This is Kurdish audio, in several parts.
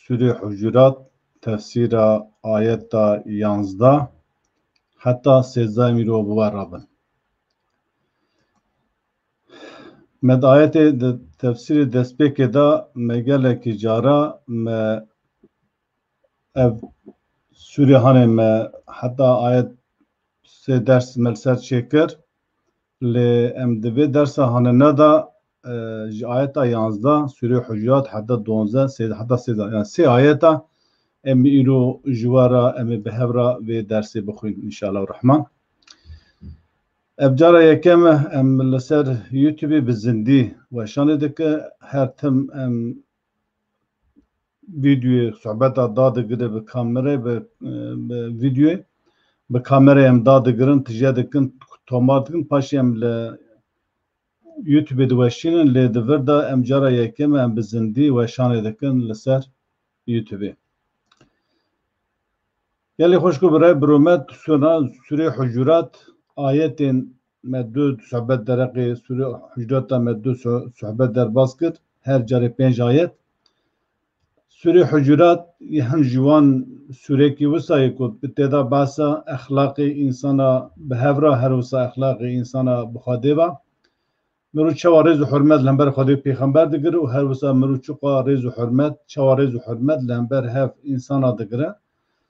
Sûrê Hucurat tefsîra ayeta yanzda heta sêzdeh mirov bi we re bin. Me di ayetê di tefsîrê destpêkê de me gelekî cara me ev sûrê hanê me heta ayet sê ders me li ser çêkir. Lê em di vê dersa hanena de ji ayeta yanzdeh, sûreyê Hucurat, heta duanzdeh, sêzdeh heta sêzdeh yan sê ayeta em ê îro ji we re em ê bi hev re vê dersê bixwînin înşallah rehman. Ev cara yekem e em li ser YouTubeê bi zindî weşanê dike. Her tim em Vîdyoyê sobeta dadigirê bi kamerê bi vîdyoyê bi kamerê em dadigirin tije dikin tomar dikin paşê em li YouTubeê diweşînin lê di vir de em cara yekem e em bi zindî weşanê dikin li ser YouTubeê. Gelê xweş ku bi re bi rûmet sûna sûrê hucurat ayetên Me du suhbet dereqê Sûrê Hucreta me du suhbet derbas kir, her carê pênc ayet. Sûrê Hucurat yê hin ji wan sûrekî wisa ye ku bi têda behsa exlaqê însana bi hev ra her wisa exlaqê însana bi Xwedê va. Mirov çawa rêz û hurmet li hember Xwedê û pêxember digire û her wisa mirov çiqas rêz û hurmet, çawa rêz û hurmet li hember hev însana digire.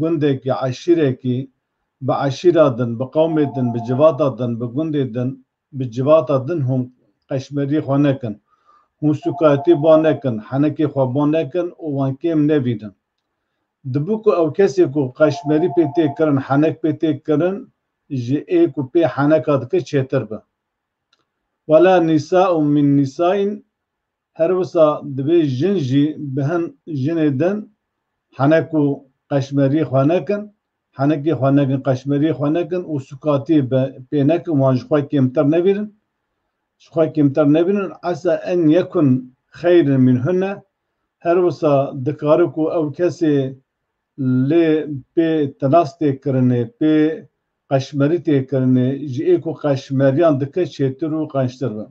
Gundekî, eşîrekî, bi eşîra din, bi qewmê din, bi civata din, bi gundê din, bi civata din hûn qeşmerî xwe nekin, hûn sûkayetî ba nekin, henekê xwe ba nekin û wan kêm nebînin. Dibû ku ew kesê ku qeşmerî pê tê kirin, henek pê tê kirin ji ê ku pê heneka dike çêtir be. Wela nîsa û min nîsaîn Her wisa divê jin jî bi hin jinê din henek û qeşmeriyê xwe nekin, henekê xwe nekin, qeşmeriyê xwe nekin û sukatiyê be pê nekin, wan ji xwe kêmtir nebînin, ji xwe kêmtir nebînin, esa en yekun xeyr in mîn hun ne, her wisa dikare ku ew kesê lê pê tinas tê kirinê, pê qeşmerî tê kirinê, ji ê ku qeşmeriyan dike çêtir û qençtir bin.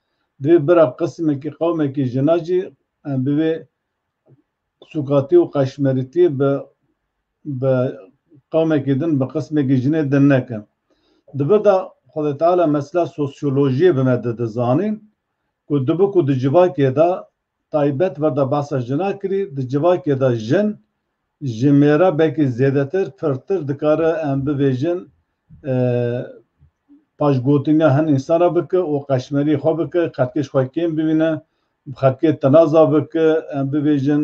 Divê bira qisimekî qewmekî jinan jî bi vê sûkatî û qeşmerîtî bi bi qewmekî din bi qisimekî jinê din nekin. Di vir de Xwedê Teala mesela sosyolojiyê bi me dide zanîn ku dibi ku di civakê de Taybet verda behsa jinan kirî, di civakê de jin ji mêrebekî zêdetir, pirtir dikare em bivêjin paşgotinga hin însan re bike û qeşmerî xwe bike, qedkê ji xwe kêm bibîne, bi qedkê tinaza bike, em bivêjin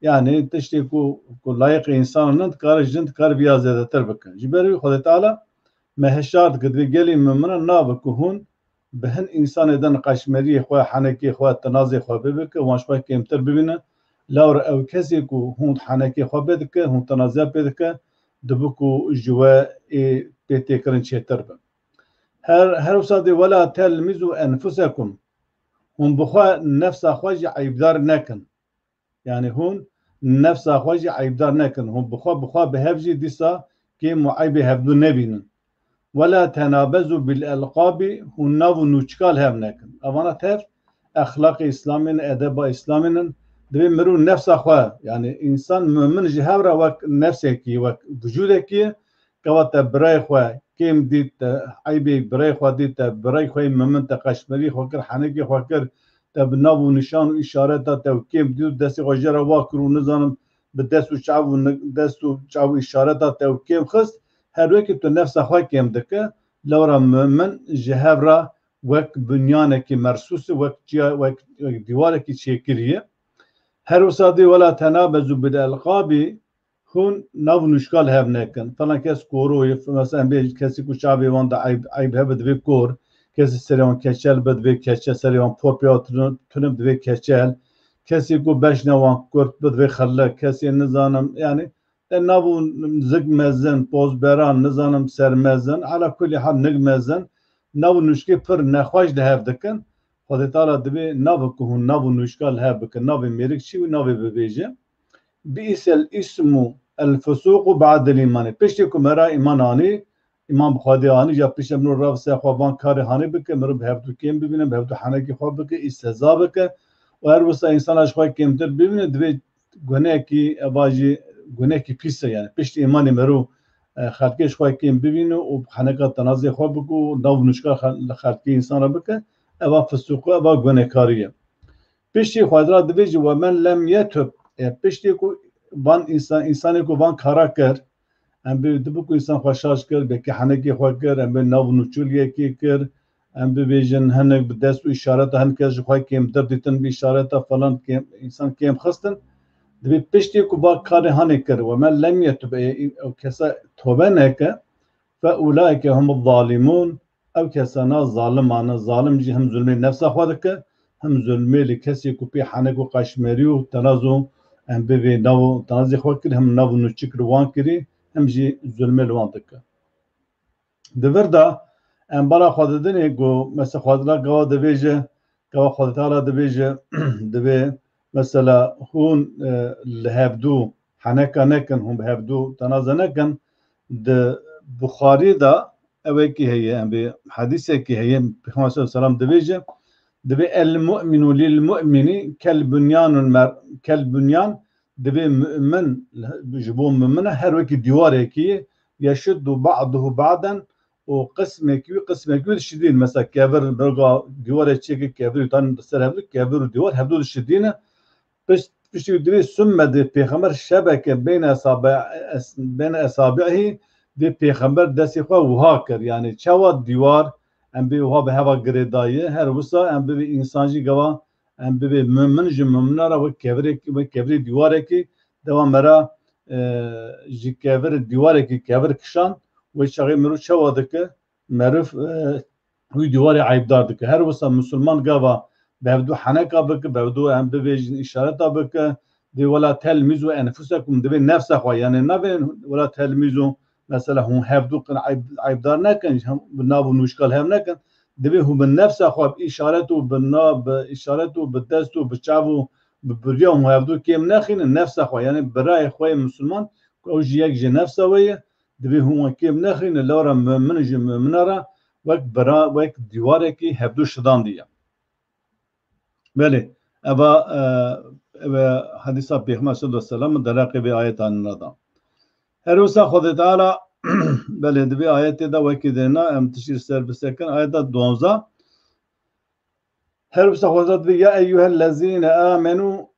yanî tiştê ku ku layiqê însan nin dikare jin dikare vê ya zêdetir bike. Ji ber wî Xwedê Teala me hişyar dike, divê gelê mumînan nabe ku hûn Bi hin însanê de niqaşmeriyê xwe, henekê xwe, tinazê xwe bê bike, wan ji xwe kêmtir bibîne. Lawir ew kesê ku hûn henekê xwe bê dike, hûn tinaziya pê dike, dibi ku ji we ê pê têkirin çêtir be. Her her wisa dê wela telmizû enfusekum, hûn bi xwe, nefsa xwe jî eyîbdar nekin. Yanî hûn nefsa xwe jî eybdar nekin, hûn bi xwe bi xwe bi hev jî dîsa kêm û eybê hevdu nebînin. Wela tenabezu bil elqabi hûn nav û nûçika li hev nekin. Evana tev exlaqê Îslamê ne, edeba Îslamê ne. Divê mirov nefsa xwe yanî însan mumin ji hev re wek nefsekî, wek vijûdekî Gava te birayê xwe kêm dît, te eybê birayê xwe dît, te birayê xwe yê memin, te qeşmerîyê xwe kir, henekê xwe kir, te bi nav û nîşan û îşareta te û kêm dît û destê xwe jê re va kir û nizanim bi dest û çav û dest û çav û îşareta te û kêm xist, her wekî tu nefsa xwe kêm dikir, lewra memin ji hev re wek binyanekî mersûs ê, wek çiya wek dîwarekî çêkirî ye. Her wisa dê wela te nabe Zubîl Elqabî, Hûn nav nûşka li hev nekin. Filan kes koro ye, mesela em bê kesî ku çavê wan de eyb hebe divê kor, kesî serê wan keçel be divê keçel, serê wan porp ya tune be divê keçel, kesî ku beşna wan kurt be divê xellek, kesê nizanim yanî e nav û zik mezin, pozberan, nizanim sermezin, ala kulî hal nik mezin nav û nûşkê pir nexweş li hev dikin. Xwedê Teala divê navê ku hûn nav û nûşka li hev bikin, navê mêrik çi û navê bibêje. Bi'îs el îsm û el fusûk û ba'd el îmanî Piştî ku me re îman anî, îman bi Xwedê anî ja piştre mirov re bi ser xwe van karê hanê bike, mirov bi hevdu kêm bibîne, bi hevdu henekî xwe bike, îstehza bike û her wisa însana ji xwe kêmtir bibîne divê gunekî eva jî gunekî pîs e yanî piştî îmanî mirov xelkê ji xwe kêm bibîne û heneka tenazê xwe bike û nav nûçka li xelkê însan re bike eva fusûk û eva gunekarî ye. Piştî xwedra divê jî we men lem ye tub e. Piştî ku van însan însanê ku van kara kir em bi dibi ku însan xwe şaş kir bi kehanekê xwe kir em bi nav nûçûl yekê kir em bibêjin hinek bi dest û îşareta hin kes ji xwe kêmtir dîtin bi îşareta falan kêm însan kêm xistin divê piştî ku va karê hanê kir we men lem ye tub e ew kesa tobe neke fe ûlaike hum zalîmûn Ev kesana zalimane zalim jî him zulmê nefsa xwe dike, him zulmê li kesê ku pê henek û qaşmerî û tenaz û em bivê nav û tenazê xwe kir him nav û nûçik li wan kirî him jî zulmê li wan dike. Di vir de em bala xwe didinê ku mese Xwedila gawa dibêje, gawa Xwediteala dibêje, divê mesela hûn li hevdû Heneka nekin hûn bi hev dû tena ze nekin. Di Buxarî de ewekî heye em vê hedîsekî heye Pêxember sal selam dibêje divê el mu'minu lil mu'minî kel bunyanul mer kel bunyan divê mu'min ji bo mu'mine her wekî dîwarekî ye yeşuddu ba'duhu ba'den û qismekî wî qismekî wê dişidîn. Mesela kevir roga dîwarê çêke kevirî tan di ser hev dû kevir û dîwar hev dû dişidîne Pişt piştî û divê summe dê pêxember şebeke beyne esabe beyne esabi'î dê pêxember destê xwe wiha kir yanî çawa dîwar em bê wiha bi heva girêdayî her wisa em bibê însan jî gava em bibê mumin ji mumina re wek kevirekî wek kevirê dîwarekî dewa me re ji kevir dîwarekî kevir kişand wê çaxê mirov çawa dike Meriv wî dîwarê eybdar dike. Her wisa misilman gava bi hevdu heneka bike, bi hevdu em bivêjin îşareta bike. Dê wela telmîzo ya nifûsa ku min divê nefsa xwe yanê navê wela telmîzo mesela hûn hevdu qin eybdar nekin, bi nav û nûşka li hev nekin. Divê hûn bi nefsa xwe bi îşaret û bi nav bi îşaret û bi dest û bi çav û bi birya hûn hevdu kêm nexînin nefsa xwe yanê birayê xwe yê misilman ku ew jî yek ji nefsa wê ye Divê hûn wan kêm nexîne lara mumin ji mumina re wek bira wek dîwarekî hevdu şidandî ye. Belê ev a ev e hedîsa Pêxember selo selam û dereqê vê ayeta nina da. Her wisa Xwedê Teala belê di vê ayetê de wekî dêna em tiştî li ser bisekin ayeta duanza Her wisa Xwedê Teala divê ya eyyuhellezîne amenû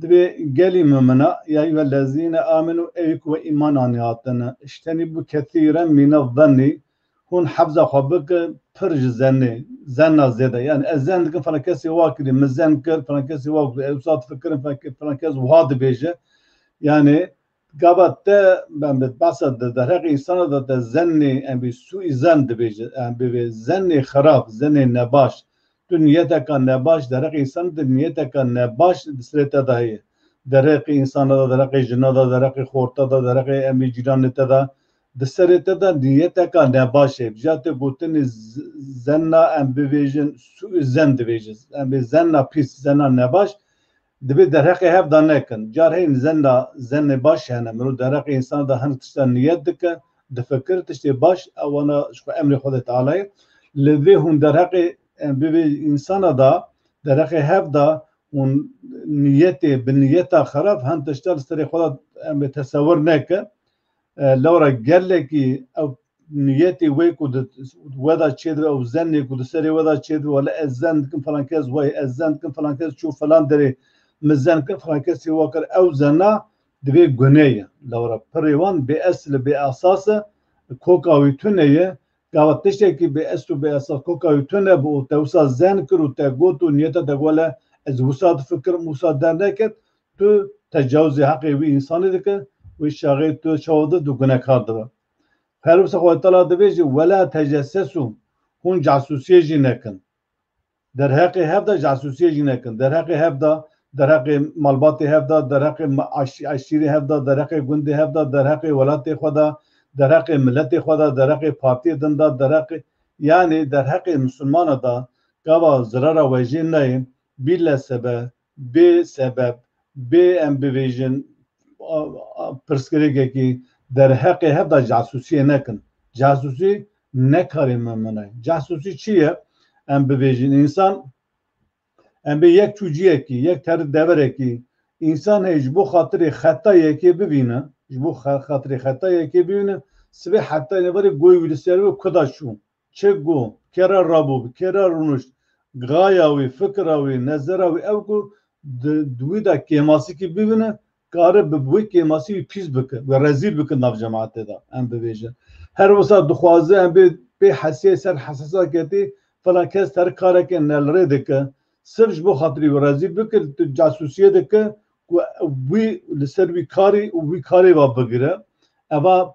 Divê gelî mumina, ya eyyuhel lezîne âmenû, ey ku wê îman anî hatine, ijtenîbû kesîren mîne zennî, hûn hebza xwe bike pir ji zennê, zenna zêde, yanî ez zenn dikim filan kesê wa kirî, min zenn kir, filan kesê wa got, ewsa difikirim filan kes wiha dibêje, yanî Gava te ben bi basa de derheqê însana de te zennê em bî sûî zen dibêje em bivê zennê xerab zennê nebaş tu niyeteka nebaş derheqê însan de niyeteka nebaş di serê te de heye derheqê însana de derheqê jina de derheqê xorta de derheqê em bî cîranê te de di serê te de niyeteka nebaş heye bija te gotinê zenna em bivêjin sûî zen dibêje em bê zenna pîs zenna nebaş Divê derheqê hev da nekin. Car heyîn zen da zenê baş hene. Mirov derheqê însan da hinek tiştan niyet dike, difikir, tiştê baş ew wana ji xwe emrê Xwedê Teala ye. Li vê hûn derheqê bi vê însana da, derheqê hev da hûn niyetê bi niyeta xerab hin tişta li serê xwe da tesewir neke. Lewra gelekî ew niyetê wê ku di we de çêdibe ew zenê ku di serê we de çêdibe wele ez zen dikim filan kes wayê ez zen dikim filan kes çû filan derê min zen kir filan kesî wa kir ew zena divê gunê ye lewra pirê wan bê esl e bê esas e koka wî tune ye gava tiştekî bê esl û bê esas koka wî tune bi û te wisa zen kir û te got û niyete te wele ez wisa difikirim wisa derneket Tu tecawizê heqê wî însanê dike, wê çaxê tu çawa dir tu gunekar dibe. Perwisa xwe tala divê jî wela tejesses û hûn casusiyê jî nekin. Derheqê hev de casusiyê jî nekin. Derheqê hev de, derheqê malbatê hev de, derheqê eşîrê hev de, derheqê gundê hev de, derheqê welatê xwe de, derheqê miletê xwe de, derheqê partiyê din de, derheqê yanî derheqê misilmana de gava zirara we jê neyê, bîle sebe, Bê sebeb, bê em bibêjin pirsgirêkekî derheqê heta casusiyê nekin. Casusî ne karê me min e. Casusî çi ye? Em bibêjin însan, em bê yek çûciyekî, yek terik deverekî, însan heye ji bo xatirê xeta yekê bibîne, ji bo xatirê xeta yekê bibîne, sibê heta nêverê goy wî li ser be kuda çû? Çi ku kê re rabû, bi kê re rûnişt, gaya wî, fikira wî, nezera wî ew ku di wî de kêmasikî bibîne, kare bi wê kêmasî wî pîs bike, wê rezîl bike di nav cematê de. Em bibêjin, her wisa dixwaze em bê pê hesiyê ser hesasa ketî, filan kes terik karekê nelrê dike, sirf ji bo xatirî wê rezîl bike, tu casûsiyê dike ku wî li ser wî karî û wî karê ve bigire. Eva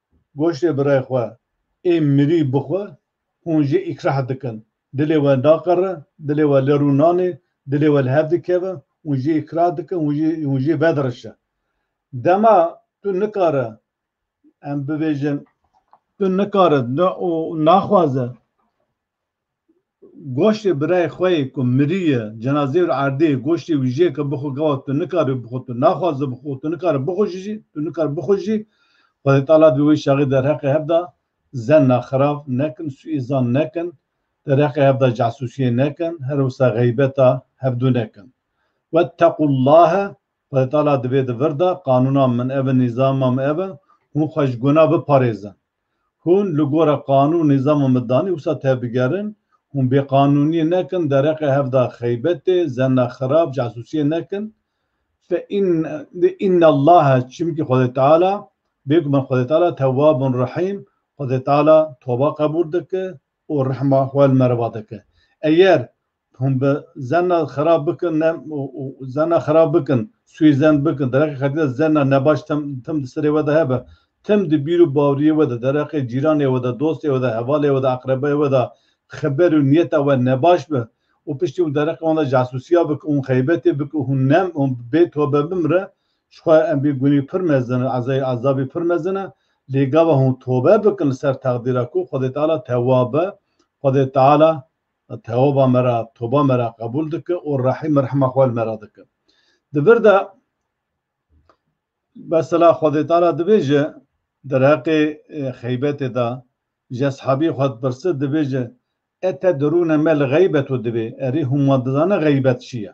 Goştê birê xwe ê mirî bixwe, hûn jê îkrah dikin. Dilê we naqere, dilê we li rû nanê, dilê we li hev dikeve, hûn jê îkrah dikin, hûn jê vedirişe. Dema tu nikare, em bibêjin, tu nikare naxwaze. Goştê birayê xwe yê ku miriye, cenazeyê û erdê goştê wî jê ke bixwe gawa tu nikaribî bixwe, tu naxwaze bixwe û tu nikaribî bixwîjî jî, tu nikaribî bixwîjî jî, Xwedê tala bi wê şaxê derheqê hev da zenna xirav nekin, sûîzan nekin, derheqê hev da casûsiyê nekin, her wisa xeybeta hevdu nekin. Wettequllahe, Xwedê tala divê di vir de qanûna min ev e, nîzama min ev e, hûn xwe ji guna biparêzin. Hûn li gora qanûn û nîzama midanî wisa tebigerin, hûn bêqanûniyê nekin, dereqê hevda xeybetê, zenna xirab, casusiyê nekin. Fe in innallaha çimkî Xwedê Teala bêguman Xwedê Teala tewabun rehîm, Xwedê Teala toba qebûl dike û rehma xwe li me re va dike. Eger Hûn bi zerna xerab bikin ne zerna xerab bikin, sûyê zernd bikin, dereqê xelkê de zerna nebaş tim tim di serê we de hebe. Tim di bîr û bawriyê we de, dereqê cîranê we de, dostê we de, hevalê we de, aqrebayê we de xeber û niyeta we nebaş be û piştî hûn dereqê wan de casûsiya bikin, hûn xeybetê bikin û hûn nem hûn bê tobe bimre, ji xwe em bê gunî pir mezin e, ezayê ezabî pir mezin e. Lê gava hûn tobe bikin li ser teqdîra ku Xwedê Teala tewab e, Xwedê Teala Teoba me re, toba me re qebûl dike û rehîm û rehma xwe li me re dike. Di vir de mesela Xwedê Teala dibêje derheqê xeybetê de ji eshabî xwe dipirse dibêje, E te dirûne me li xeybeto dibê, erê hûn wan dizanin xeybet çi ye?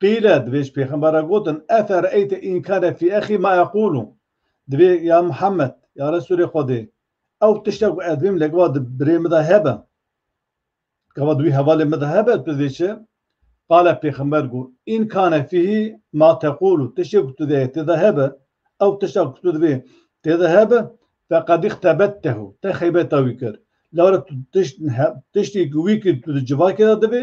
Qîle, di vêj pêxember re gotin, Efe re'eyte înkane fî exî ma eqûlu, di vê ya Muhammed, ya Resûlê Xwedê, ew tişta ku ez dibîm li gava di birê min de hebe, di gava di wî hevalê min de hebe, tu dê çi? Qale pêxember got, Înkane fîhî ma teqûlu, tiştê ku tu dê tê de hebe, ew tişta ku tu divê tê de hebe, feqed îxtebettehu, te xeybeta wî kir, lewre tu tiştî ku wî kir tu di civakê de divê,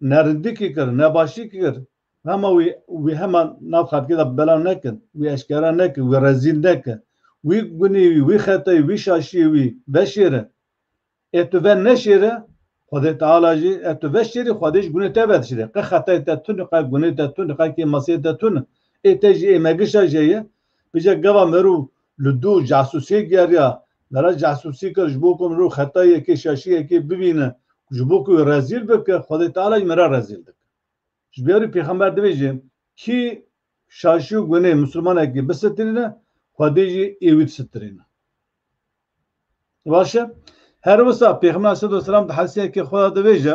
ne rindikî kir, ne başî kir, hema wî wî hema nav xelkê de belav nekin, wî eşkera nekin, wî rezîl nekin, wî gunî wî, wî xetayî, wî şaşiyê wî veşêrin. Ê tu ve neşêre, Xwedê Teala jî ê tu veşêrî Xwedê jî gunê te vedişirê. Qe xetayê te tune, qe gunê te tune, qe kêmasiyê te tune. Ê te jî ê megişa jê ye, Pije gava mero li du casusiyê geriya, mera casusî kir ji bo ku mirov xetayê yekê şaşî yekê bibîne û ji bo ku wê rezîl bike, Xwedê Teala jî mera rezîl dike. Ji ber wî pêxember dibêje, Kî şaşî û gunê mislimanekî bisitirîne, Xwedê jî ê wî disitirîne. Baş e? Her wisa pêxember aleyhisselatu weselam di hedisiyeke xwe de dibêje,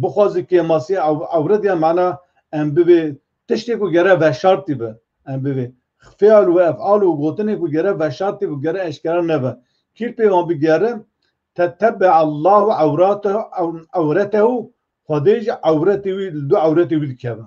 Bixwaze kêmasî ewret ya mana em bivê tiştê ku gere veşartî be. Em bivê feal û efal û gotinê ku gere veşartî be, gere eşkera nebe. Kîr pê wan bigere te tebbe Allahu ewratehu ewretehu Xwedê jî ewretê wî li du ewretê wî dikeve.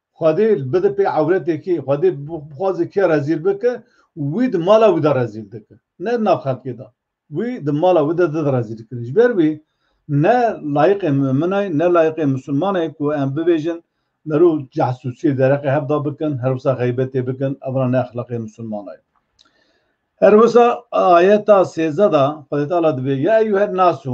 Xwedê bide pê ewretê kê, Xwedê bixwaze kê rezîl bike, wî di mala wî de rezîl dike. Ne di nav xelkê de. Wî di mala wî de dide rezîl kirin. Ji ber wî ne layiqê mumine ye, ne layiqê misilmane ye ku em bibêjin meriv cahsûsiyê dereqê hev de bikin, her wisa xeybetê bikin, ev ne exlaqê misilmane ye. Her wisa ayeta sêzdeh de Xwedê Teala dibê, Ya eyyuhen nasu,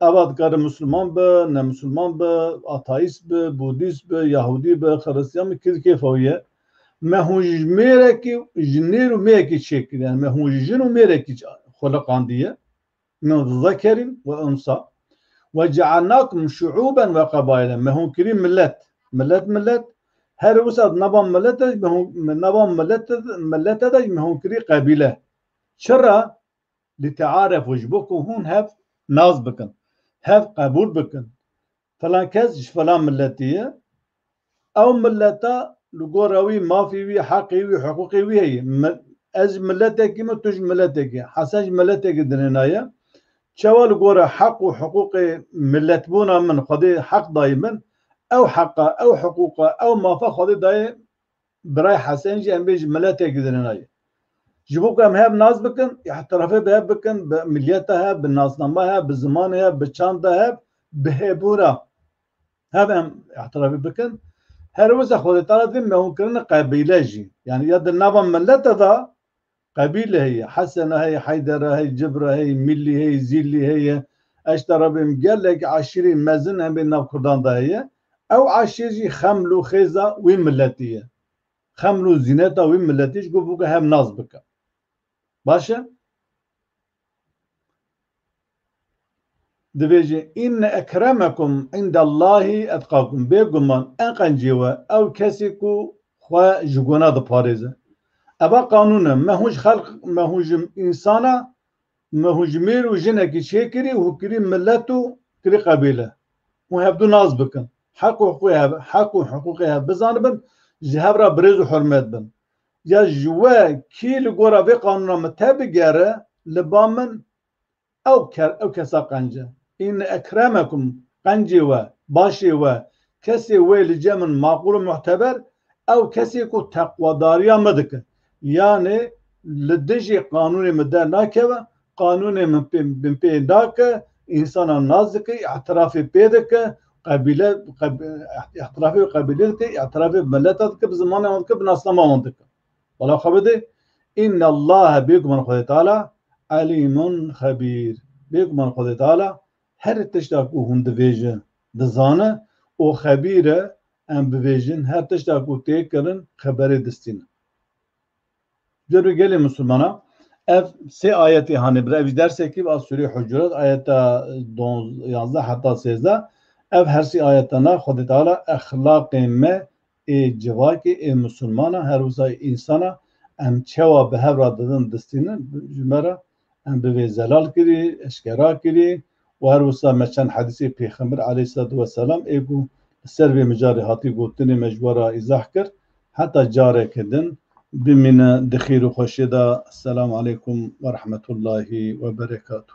Ava dikare Musulman be, ne Musulman be, Atheist be, Budîst be, Yahûdî be, Xiristiyan be, kê di kêfa wî ye. Me hûn ji mêrekî, ji nêr û mêrekî çêk kir. Yanî me hûn ji jin û mêrekî xweliqandiye. Min û di zekerîn we unsa. Ve cealnakum şuûben ve qebailen. Me hûn kirî milet. Milet milet. Herî wisa di nava milete de ji me hûn, nava milete de ji me hûn kirî qebîle. Çira? Li tearê xwe ji bo ku hûn hev nas bikin, hev qebûl bikin, filan kes ji filan miletê ye, ew mileta li gora wî mafê wî, heqê wî, hiqûqê wî heye. Ez ji miletekî me, tu ji miletekî, Hesen ji miletekî dinênaye. Çawa li gora heq û hiqûqê miletbûna min Xwedê heq dayê min, ew heqa, ew hiqûqa, ew mafa Xwedê dayê Birayê Hesen jî em bê ji miletekî zirina ye. Ji bo ku em hev nas bikin, îhtirafê bi hev bikin, bi milîyeta hev, bi nasnama hev, bi zimanê hev, bi çanda hev, bi hêbûra hev em îhtirafê bikin. Her wisa xwedê tala divê mewûnkirina qebîle jî. Yanî ya di nava milete de Qebîle heye, Hesena heye, Heydera heye, Cibra heye, Mîllî heye, Zîllî heye, eşta re bêm gelek eşîrên mezin hemê nav kurdan de heye. Ew eşîr jî xeml û xêza wî miletî ye. Xeml û zîneta wî miletî ji ku bûke hev nas bike. Baş e? Dibêjin, Înne ekremekum îndellahî etqakum, bêguman en qencî we ew kesî ku xwe ji guna diparêze. Eva qanûn e, me hûn ji xelq, me hûn ji însan e, me hûn ji mêr û jinekî çêkirî û kirî milet û kirî qebîle. Hûn hevdu nas bikin, heq û hiqûqê hev, heq û hiqûqê hev bizanibin, ji hev re birêz û hurmet bin. Ya ji we kî li gora vê qanûna min tebigere li ba min ew ew kesa qenc e. Îne ekremekum qencê we, başê we, kesê wê li cem min maqûl û muhteber ew kesê ku teqwedariya min dike. Yanê li dijî qanûnê min dernakeve Qanûnê min pê min pê da ke însanan nas dike, îtirafê pê dike, qebîle îtirafê bi qebîlê dike, îtirafê bi mileta dike, bi zimanê wan dike, bi nasnama wan dike. Bala xwe bidê. Înnellahe bêguman Xwedê Teala Elîmun Xebîr. Bêguman Xwedê Teala her tişta ku hûn dibêjin dizane û xebîr e em bibêjin her tişta ku tê kirin xeberê distîne. Cer û gelê Musulmanan ev sê ayetê hanê bir ev jî dersekî bi a Sûreyê Hucurat ayeta yazdeh heta sêzdeh ev her sî ayetana Xwedê Teala exlaqê me ê civakê ê musulmana her wisa ê însana em çewa bi hev re didin distînin ji me re Em bi vê zelal kirî, eşkera kirî û her wisa me çend hedîsê Pêxember aleyhîslatû weselam ê ku li ser vê mijarê hatî gotinê me ji we re îzah kir. Heta careke din bimîne di xêr û xweşiyê de. Selamu aleykum werehmetullahî weberekatû.